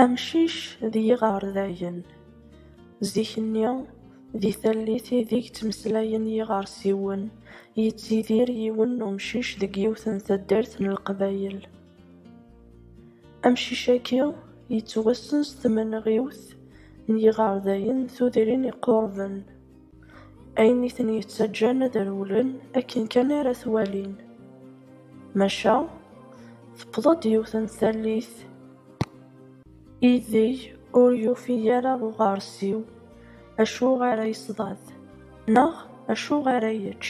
Amcic d yiɣerdayen, zik-nni di tallit ideg ttmeslayen yiɣersiwen, yettidir yiwen n umcic deg yiwet n taddart n leqbayel. Amcic-agi yettwassen s tmenɣiwt n yiɣerdayen tudrin iqurben. Ayen i ten-yettaǧǧan ad rewlen akken kan ara t-walin, maca tewweḍ-d yiwet n tallit ideg ur yufi ara uɣersiw acu ara yesḍad neɣ acu ara yečč.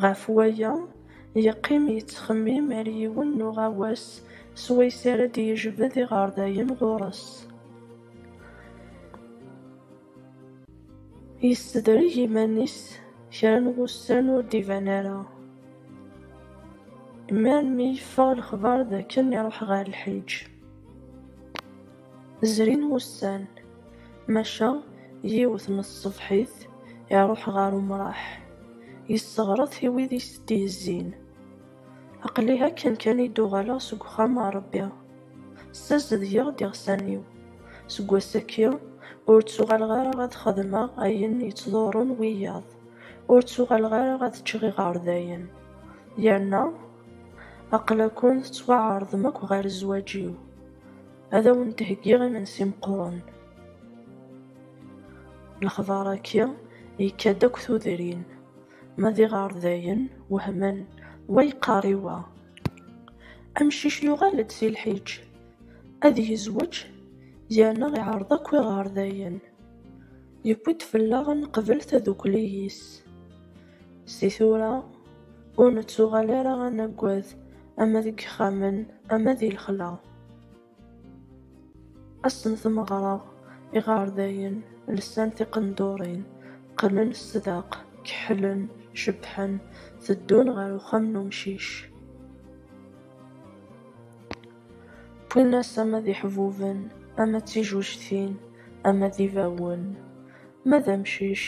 Ɣef waya, yeqqim yettxemmim ar yiwen n uɣawas swayes ara d-yejbed iɣerdayen ɣur-s. Yessedreg iman-is kra n wussan ur d-iban ara. Mi armi yeffeɣ lexbar d akken iruḥ ɣer lḥiǧ. Zrin wussan, maca yiwet n tṣebḥit iruḥ ɣer umraḥ, yesseɣret i wid i s-d-yezzin, Aql-i akken kan i d-uɣaleɣ seg uxxam a Rebbi. Ssazedgeɣ-d iɣsan-iw. Seg wass-agi, ur ttuɣaleɣ ara ad xedmeɣ ayen yettḍurrun wiyaḍ, ur ttuɣaleɣ ara ad ččeɣ iɣerdayen. Yerna, aql-akun tettwaɛerḍem akk ɣer zzwaǧ-iw. Ad awen-d-heggiɣ imensi meqqren. Lexbar-agi yekka-d akk tudrin. Ma d iɣerdayen wehmen, wa yeqqar i wa, Amcic yuɣal-d si lḥiǧ, ad yezweǧ, yerna iɛreḍ akk iɣerdayen. Yewwi-d fell-aɣ ad neqbel tadukli-is. Si tura, ur nettuɣal ara ad naggad ama deg yixxamen ama di lexla. Ass n tmeɣra, iɣerdayen lsan tiqendurin, qqnen sdaq, keḥlen, cebbḥen, teddun ɣer uxxam n umcic. Wwin-as ama d iḥbuben, ama d tijujtin, ama d ibawen. Ma d amcic,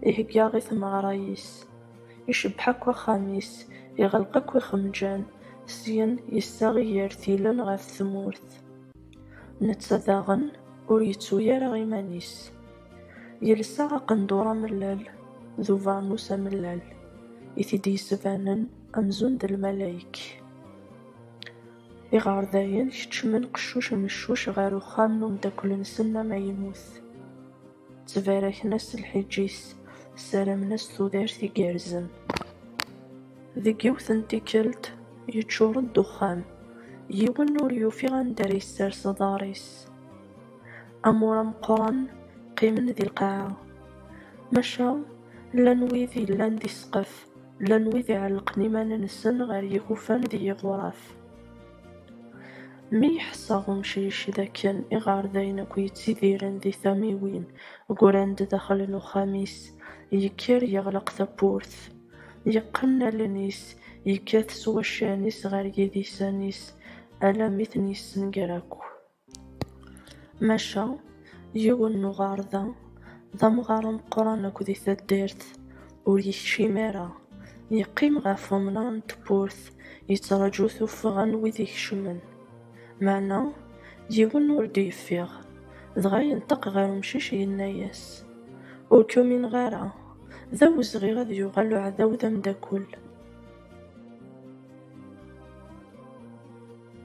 ihegga i tmeɣra-is. Icebbeḥ akk axxam-is, iɣelq akk ixemǧan, syen yessaɣ igertilen ɣef tmurt. Netta daɣen ur yettu ara iman-is. Yelsa aqendur amellal d ubeṛnus amellal, i t-id-yesbanen amzun d lmalayek. Iɣerdayen keččmen qeccuc meccuc ɣer uxxam n umeddakel-nsen amaynut. Ttbaraken-as lḥiǧ-is, ssaramen-as tudert igerrzen. Deg yiwet n tikkelt, yeččur-d uxxam. Yiwen ur yufi anda ara yessers aḍar-is. Amur ameqqran qqimen di lqaɛa. Maca, llan wid yellan di ssqef, llan wid iɛellqen iman-nsen ɣer yigufan d yiɣuraf. Mi ḥesseɣ umcic d akken iɣerdayen akk yettidiren di tamiwin, ggran-d daxel n uxxam-is, yekker yeɣleq tawwurt, yeqqen allen-is, yekkat s waccan-is ɣer yidisen-is, alammi ten-yessenger akk. Maca, yiwen n uɣerda, d amɣar ameqqran akk di taddart, ur yekcim ara, yeqqim ɣef umnar n tewwurt, yettraǧu tuffɣa n wid ikecmen. Meɛna, yiwen ur d-yeffiɣ, dɣa yenṭeq ɣer umcic yenna-as, Ur k-umineɣ ara, d awezɣi ad yuɣal uɛdaw d ameddakel.